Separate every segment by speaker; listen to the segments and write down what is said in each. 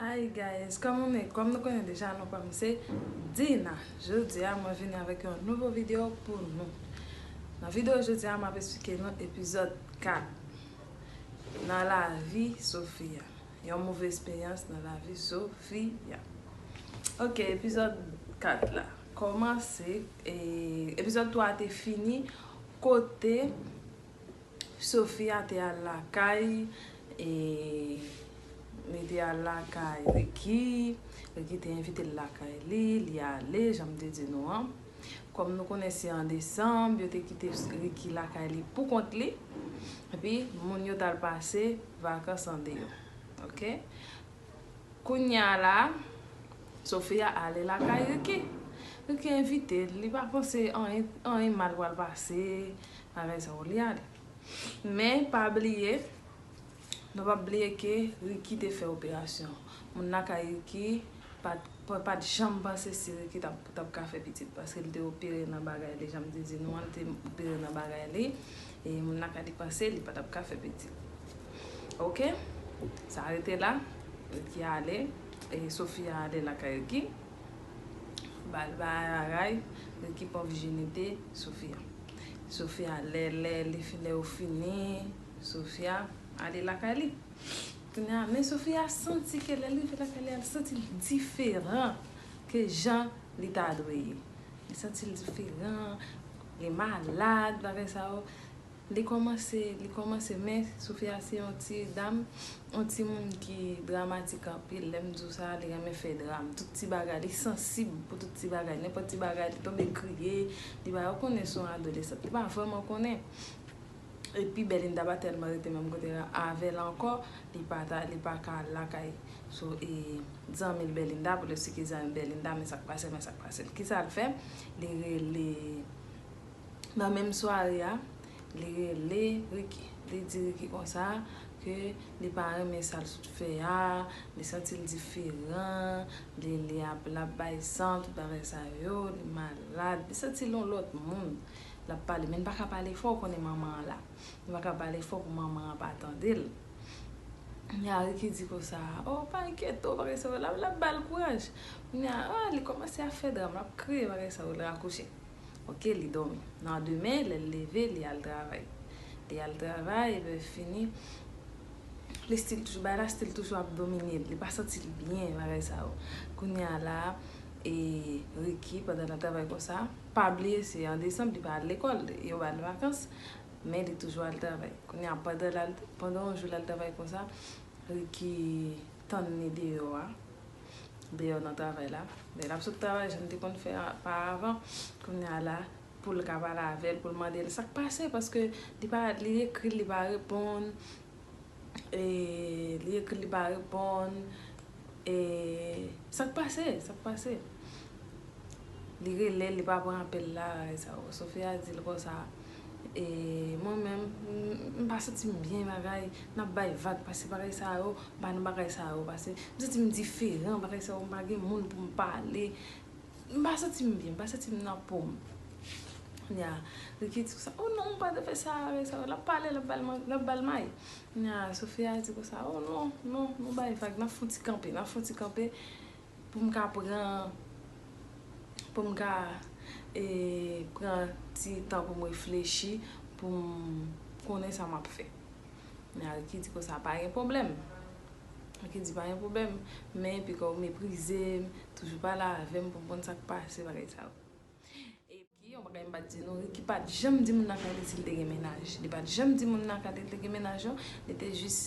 Speaker 1: Hi guys kòman nou ye kòm nou konnen deja non pam se Dina jodi a mwen vini avèk yon nouvo video pou nou nan video jodi a map esplike nou epizòd 4 nan lavi Sofia yon move esperyans nan lavi Sofia ok epizòd 4 la kòmanse epizòd 3 te fini Kote Sofia te al lakay e li te al lakay Ricky, Ricky te envite l lakay li, li ale jan m te di nou an. Kòm nou konnen se an desanm, yo te kite Ricky lakay li pou kont li, epi moun yo t al pase vakans andeyò. Ok. Kounya la Sofia ale lakay Ricky. Ricky envite l, li pa panse anyen mal pral pase, bagay sa yo li ale. Men pa bliye, nou pap bliye ke Ricky te fè operasyon. Moun lakay Ricky pat janm panse si Ricky tap ka fè pitit paske li te opere nan bagay li, janm te di nou an, li te opere nan bagay li. E moun la ka depanse li patap ka fè pitit ok sa rete la Ricky ale e Sofia ale lakay Ricky bal bay raray Ricky pran vijinite Sofia Sofia lè lè li fin lè yo fini Sofia ale lakay li kounye a men Sofia santi ke lèl rive lakay li al santil diferan ke jan li ta dwe ye li santil diferan Li malad bagay sa yo. Li komanse, li komanse men Sophie a se yon ti dam, yon ti moun ki dramatik anpil. Lè m di w sa, li renmen fè dram. Tout ti bagay, li sansib pou tout ti bagay. Nenpòt ti bagay li tonbe kriye. Li pa, ou konnen son adolesant. Li pa vrèman konnen. Epi Belinda pa tèlman rete menm kote la avè l ankò, li pa ta, li pa ka al lakay sou e zanmi l Belinda pou l esplike zanmi Belinda men sa k pase l, men sa k pase l. Kisa l fè? Li rele, nan menm sware a, li rele Ricky. Li di Ricky konsa ke li pa renmen sa l sot fè a, li santi l diferan, li li ap, l ap bay san, tout bagay sa yo, li malad, li santi l yon lòt moun. l ap pale men li pa ka pale fò ou konnen manman an la li pa ka pale fò pou manman an pa tande l kounye a Ricky di konsa o pa enkyete w bagay sa yo la ap ba l kouraj kounye a a li kòmanse ap fè dram l ap kriye bagay sa yo l rakouche ok li dòmi nan demen lè l leve li al travay li al travay epi lè l fini li stil toujou bagay la stil toujou ap domine l li pa santi l byen bagay sa yo kounye a la e Ricky pandan l ap travay konsa. Pa bliye se an desanm li pa al lekòl, yo ba l vakans, men li toujou al travay. Kounye a pandan l al, pandan yon jou l al travay konsa, Riki tann li deyò a, deyò nan travay la. Lè l ap sot travay jan l te konn fè pa avan, kounye a la pou l ka pale avè l, pou l mande l sa k pase paske li pa, li ekri l li pa reponn. e li ekri li pa reponn e sak pase sak pase li relel li pa pran apel la e sa yo Sofia dil konsa e mwen menm m pa santim byen bagay nap bay vag pase bagay sa yo m pa nan bagay sa yo pase m santim diferan bagay sa yo m pa gen moun poum pale M pa santi m byen, m pa santi m nan po m. Kounye a, li ki di konsa, o non, ou pa ta fè sa avèk sa. L ap pale, l ap ba l may. Kounye a, Sofya di konsa, o non, non, nou bay vag, n ap fè yon ti kanpe, n ap fè yon ti kanpe pou m ka pran, pou m ka pran ti tan pou m reflechi, pou m konnen sa m ap fè. Men Ariky di konsa pa gen pwoblèm. Ariky di pa gen pwoblèm, men epi kòw meprize m, toujou pale avè m pou m konn sa k pase bagay sa yo. Epi yon bagay m pa t di nou, Riky pa t janm di moun nan kay li si l te gen mennaj. Li pa t janm di moun nan kay li te gen mennaj non. Li te jis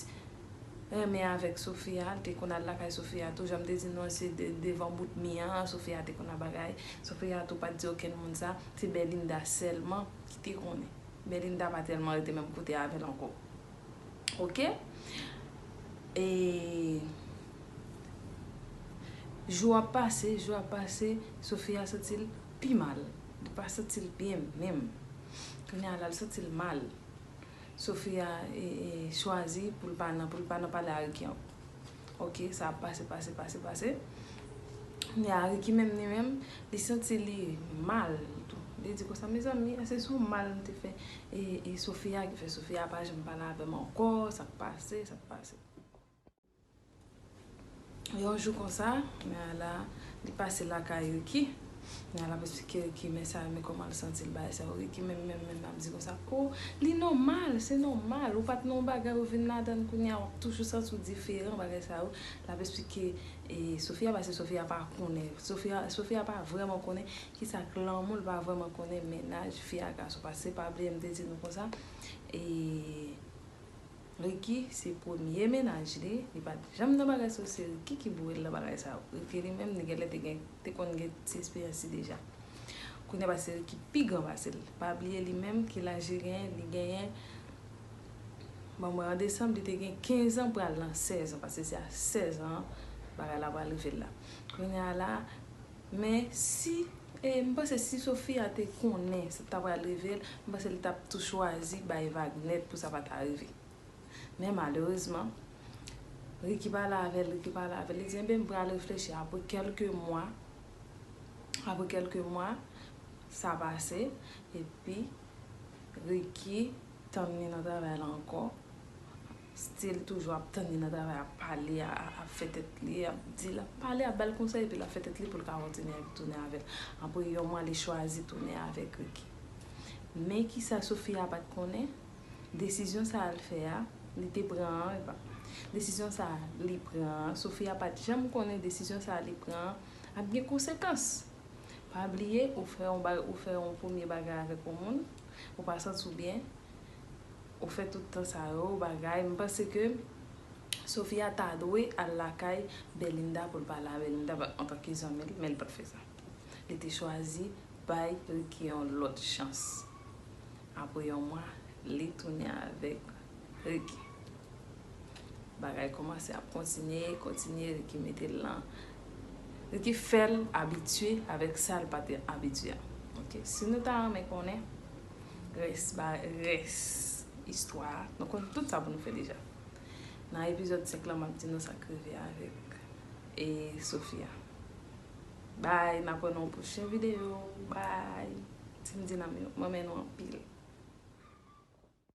Speaker 1: renmen avèk Sofia, li te konn al lakay Sofia tou. Jan m te di nou an se devan bout mi an Sofia te konn ap bagay. Sofia tou pa t di okenn moun sa, se Belinda sèlman ki te konnen. Belinda pa telman rete menm kote avel anko ok e jou ap pase jou ap pase Sofia santil pi mal li pa santil byen menm kounya la li santil mal Sofia chwazi poul pa nan pale a Ricky anko. Ok sa ap pase pase pase pase Kounya a Ricky menm li menm li santi li mal tou li di konsa mezanmi eske se yon mal m te fè e Sofia ki fè Sofia pa janm pale avè m ankò sak pase sak pase Yon jou konsa Nayla li pase lakay Ricky. Men al ap esplike Ricky men sa yo men kòman l santi l bagay sa yo Ricky menm menm menm ap di konsa o li nòmal se nòmal ou pat nan yon bagay ou vin ladan l kounye a w ap toujou santi w diferan bagay sa yo l ap esplike e Sofia pase Sofia pa konnen Sofia Sofia pa vrèman konnen kisa k lanmou l pa vrèman konnen mennaj fi a gason pase se pa bliye m te di nou konsa e. Ricky se premye mennaj li, li pat janm nan bagay so se Ricky ki voyel nan bagay sa yo. Ricky li menm li genlè te gen te konn gen ti esperyans li deja. Kounya pase Ricky pi gran pase l. Pa bliye li menm ki laj li genyen, li genyen bon mwen an desanm li te gen 15 an pral nan 16 an pase se a 16 an bagay la pral rive l la. Kounya la Men si eh m panse si Sofia te konnen sa t ta pral rive l m panse li t ap tou chwazi bay vag nèt pou sa pa ta rive men malerezman Ricky pale avè l Ricky pale avè l li di enben m pral reflechi apre kèlke mwa apre kèlke mwa sa pase epi Ricky tann li nan travay la ankò Still toujou ap tann li nan travay ap pale ap fè tèt li ap di l ap pale ap bal konsèy epi l ap fè tèt li pou l ka kontinye tounen avè l apre yon mwa li chwazi tounen avèk Ricky men kisa Sofia pat konnen desizyon sa a l fè a li te pran an epa desizyon sa a li pran an Sofia pat janm konnen desizyon sa a li pran an ap gen konsekans pa bliye ou fè yon ou fè yon premye bagay avèk yon moun ou pa santi w byen. Ou fè tout tan sa yo bagay m panse ke Sofia ta dwe al lakay Belinda pou l pale a Belinda antanke zanmi l men l pa t fè sa li te chwazi bay Ricky yon lòt chans apre yon mwa li tounen avèk Ricky bagay kòmanse ap kontinye kontinye Ricky mete l nan Ricky fè l abitye avèk sa l pa t abitye a ok si nou ta renmen konnen Rès ba rès istwa a. Nou konn tout sa pou nou fè deja. Nan epizòd 5 lan map di nou sak rive avèk e Sophie a. Bye map wè nou nan yon pwochen video. Bye Team Dinam yo. M renmen nou anpil.